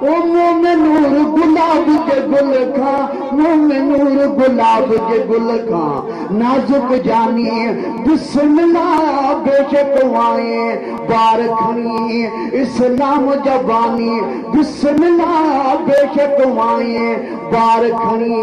او مومنور گلاب جي گل کان مومنور گلاب جي گل کان نازڪ جاني بسم الله بيشڪ وائين بار کڻي اسلام جا باني بسم الله بيشڪ وائين بار کڻي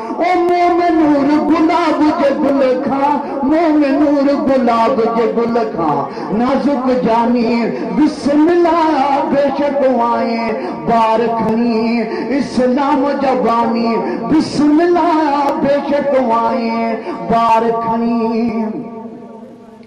او موم نور گلاب جي گل کان موم نور گلاب جي گل کان نازڪ جاني بسم الله بيشڪ وائين بار کڻي اسلام جا باني بسم الله بيشڪ وائين بار کڻي.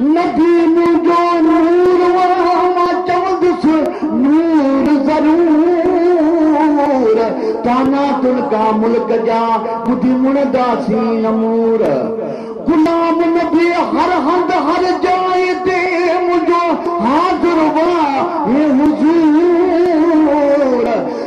نبي منهنجو نور و مان چوندس نور ضرور ڪانا تن ڪا ملڪ جا ٻڌي مڙه دا سين مور غلام نبي هر هنڌ هر جاء تي منهنجو حاضر و هي حضور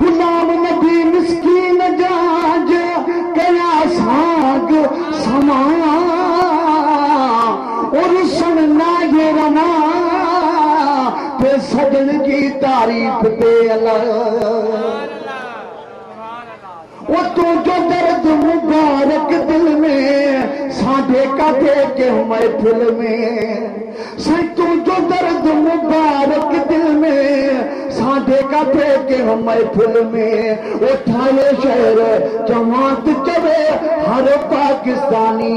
غلام نبي مسڪين جا جو ڪيا ساڳ سمان او رسڻ ناهي روا ٿي سڄڻ جي تعريف تي الله اتون جو درد مبارڪ دل ۾ سانڍي ڪاڍي ڪنهن محفل ۾، سائين تون جو درد مبارڪ دل ۾ سانڍي ڪاڍي ڪنهن محفل ۾، اٿاهي شعر چوان ته چوي هر پاڪستاني.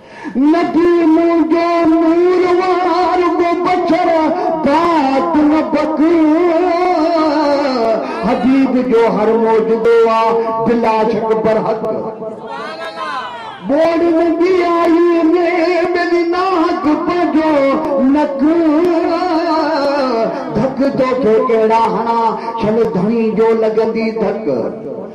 نبي مون جو نور وار ٻه بڇر بعد نبڪ حبيب جو هر موجدو آ بلا شڪ برحق ٻوڙ ۾ ٻي آئي ۾ ملي ناحق پنهنجو نڪ ڌڪ توکي ڪهڙا هڻا ڇل ڌڻي جو لڳندي ڌڪ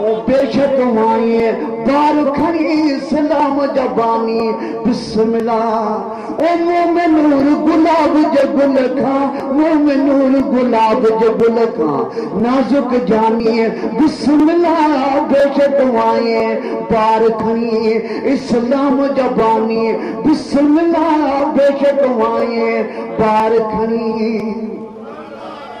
او بيشڪ مائيء بار کڻي اسلام جا باني بسم الله او مومن نور گلاب جي گل کان مومن نور گلاب جي گل کان نازڪ جانيء بسم الله بيشڪ مائيء بار کڻي اسلام جا باني بسم الله بيشڪ مائيء بار کڻي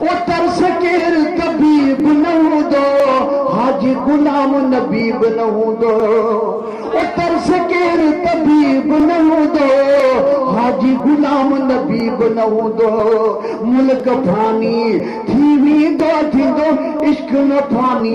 او ترس ڪير طبيب نه هوندو حاجي غلام نبي به نه هوندو او ترس ڪير طبيب نه هوندو حاجي غلام نبي به نه هوندو ملڪ فاني ٿي ويندو ٿيندو عشق نه فاني